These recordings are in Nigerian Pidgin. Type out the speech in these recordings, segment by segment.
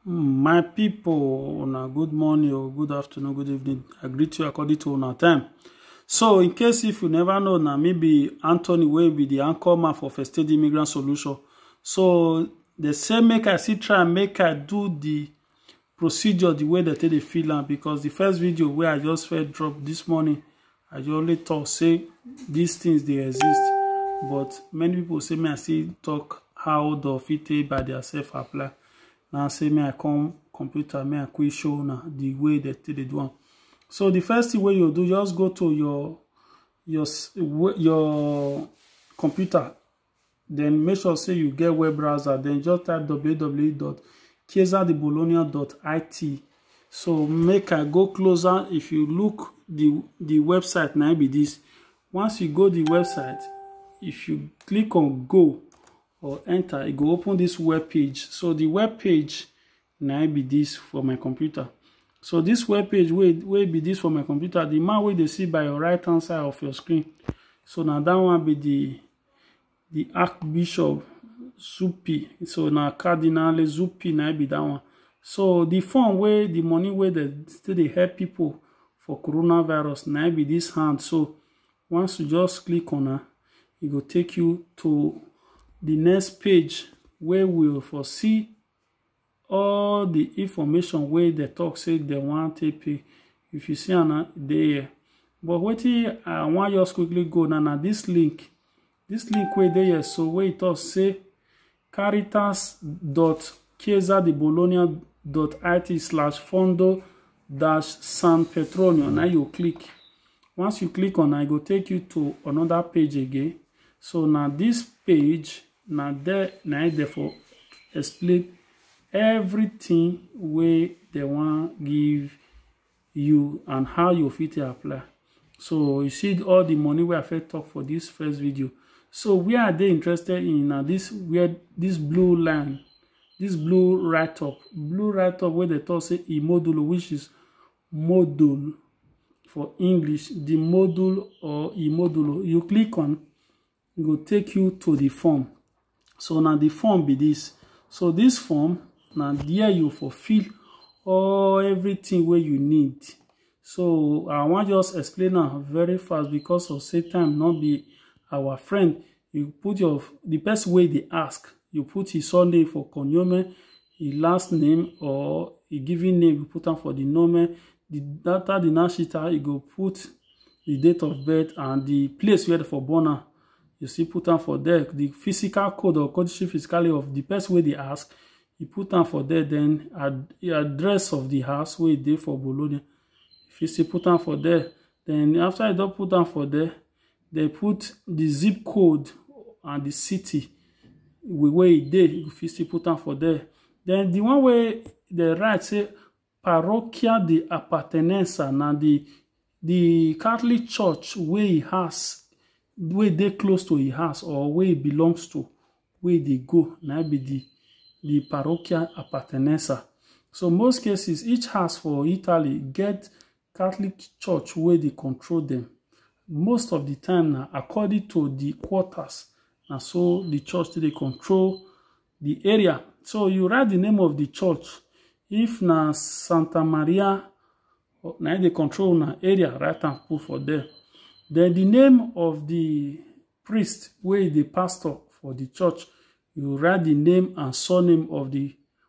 My people, una good morning or good afternoon, good evening. I greet you according to una time. So, in case if you never know, na me be Anthony wey be the anchor man for First Aid Immigrant Solution. So, they say make I see try make I do the procedure the way that they feel am because the first video where I just felt drop this morning i just only talk say these things they exist but many people say me i still talk how the fit take by themselves apply Now say me i come computer me i quick show now the way they take dey do am so the first thing wey you do just go to your your your computer then make sure say you get web browser then just type www.chiesadibologna.it so make i go closer if you look the the website now be this once you go the website if you click on go or enter it go open this web page so the web page na im be this for my computer so this web page wey wey be this for my computer the man wey dey see by your right hand side of your screen so na that one be the the archbishop zuppi so na cardinal zuppi na be that one so the fund wey the money wey dey still dey help people for coronavirus na be this hand so once you just click on am e go take you to the next page wey will for see all the information wey they talk say they want take pay if you see am dey here but wetin i wan just quickly go now na this link this link wey dey here so wey e talk say caritas dot chiesa di bologna dot it slash fondo dash san petronio na you click once you click on i go take you to another page again so now this page na there na im dem for explain everything wey dem wan give you and how you fit take apply so you see all the money wey i fit talk for this first video so where are they interested in na this where this blue line this blue write up blue write up wey dem talk say e modulo which is module for english the module or e modulo you click on e go take you to the form so na the form be this so this form na there you for fill all everything wey you need so i wan just explain am very fast because of say time no be our friend you put your the person wey dey ask you put his surname for cognomen e last name or e given name you put am for the nomen the after the nashita you go put the date of birth and the place where for born am you see put am for there the physical code or codice fiscale of the person wey dey ask you put am for there then ad the address of the house wey e dey for bologna you fit still put am for there then after you don put am for there They put the zip code and the city where e dey you fit still put am for there then the one wey dem write say parochia de appartenenza na the the catholic church wey e house wey e dey close to e house or wey e belongs to wey e dey go na im be the the parochia appartenenza so most cases each house for italy get Catholic Church wey dey control dem. Most of di time na according to di quarters na so di church take dey control di area. So you write di name of di church. If na Santa Maria na im dey control una area, write am put for there. Den di name of di priest wey e dey pastor for di church, you write di name and surname of di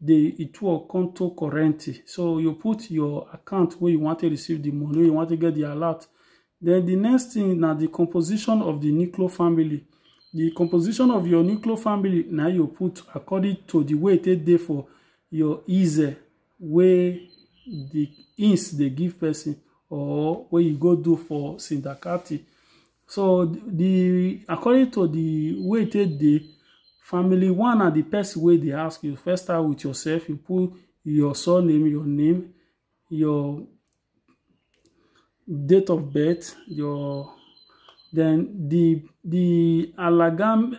the ituo conto corrente so you put your account where you want to receive the money you want to get the alert then the next thing now the composition of the nuclear family the composition of your nuclear family now you put according to the way they dey for your easy way the ins they give person or where you go do for syndacati so the according to the way it take dey family one na the person wey dey ask you first start with yourself you put your surname your name your date of birth your then the the alagam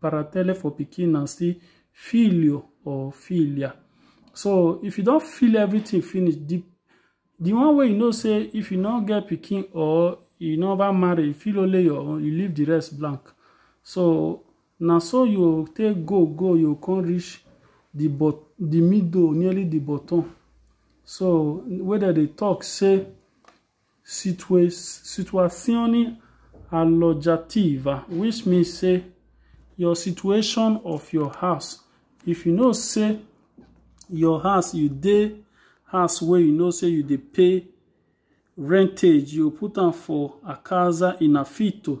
paratele for pikin na still filio or filia so if you don feel everything finish the the one way you know say if you no get pikin or you never marry you feel only your own you leave the rest blank so now so you take go go you come reach the but the middle nearly the bottom so whether they talk say Situazioni alloggiativa which mean say your situation of your house if you know say your house you dey house wey you know say you dey pay rentage you put am for a casa in affitto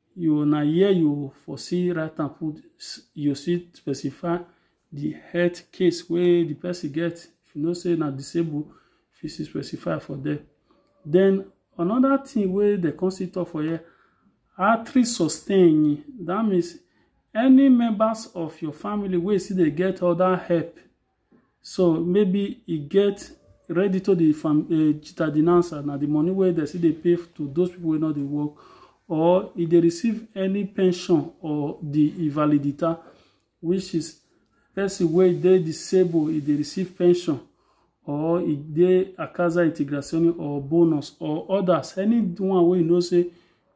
you na here you for see write am put you see specify the health case wey the person get if you know say na disabled if you see specify for there then another thing wey dem come see talk for here artery sustain that means any members of your family wey still dey get other help so maybe e get ready to the fam uh, chita denouncer na the money wey dem still dey pay to those people wey no dey work or e dey receive any pension or the invalidita which is person wey dey disabled e dey receive pension or e dey a casa integrazione or bonus or others anyone wey you know say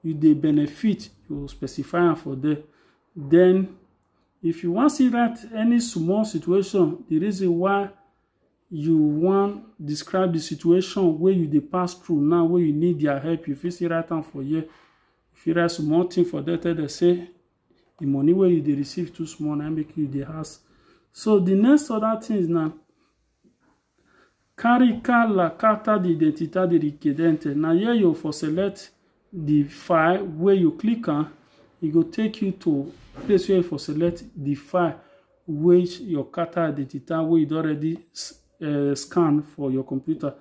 you dey benefit you specify am for there then If you wan see that any small situation, the reason why you wan describe the situation wey you dey pass through now wey you need their help you fit still write am for here you fit write small thing for there tell them say the money wey you dey receive too small na make you dey ask so the next other things na Carry car la carta de identidade requerente. Na here you for select the file where you click on. It e go take you to place where you for select the file which your carta identita where you already uh, eh, scan for your computer.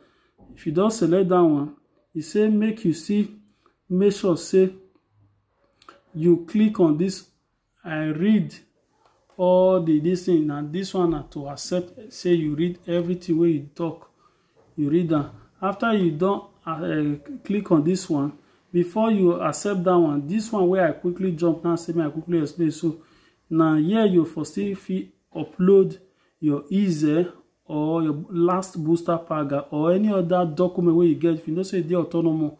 If you don't select that one, it e say make you see, make sure say you click on this i read all the this thing na this one na to accept say you read everything wey you talk you read am after you don uh, click on this one before you accept that one this one wey i quickly jump now say me i quickly explain so na here you for still fit upload your easy or your last booster pack or any other document wey you get if you know say e dey autonomous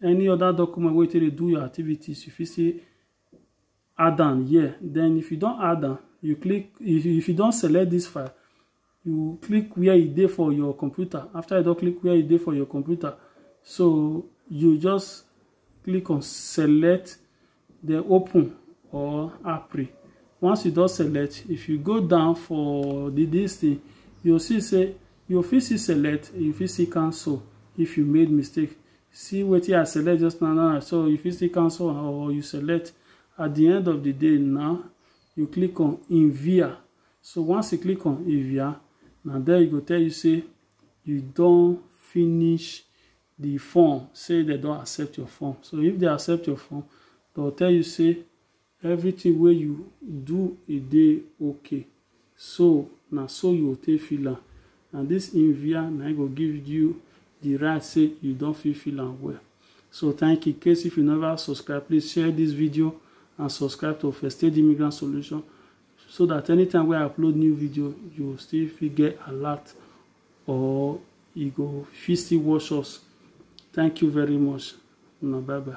any other document wey you take dey do your activities you fit still add am here then if you don add am you click if you, if you don select this file you click where e dey for your computer after you don click where e dey for your computer so you just click on select then open or apri once you don select if you go down for the this thing you see say you fit see select you fit see cancel if you made mistake see wetin i select just now now so you fit still cancel am or you select at the end of the day now you click on envia so once you click on envia na there e go tell you say you don finish the form say they don accept your form so if they accept your form they will tell you say Everything wey you do e dey ok so na so you go take feel am na this Invia na im go give you the right say you don fit feel am well so thank you case if you never subscribe please share this video and subscribe to First Aid Immigrant Solution so that anytime wey I upload new video you still fit get alert or you go fit still watch us thank you very much una bye bye.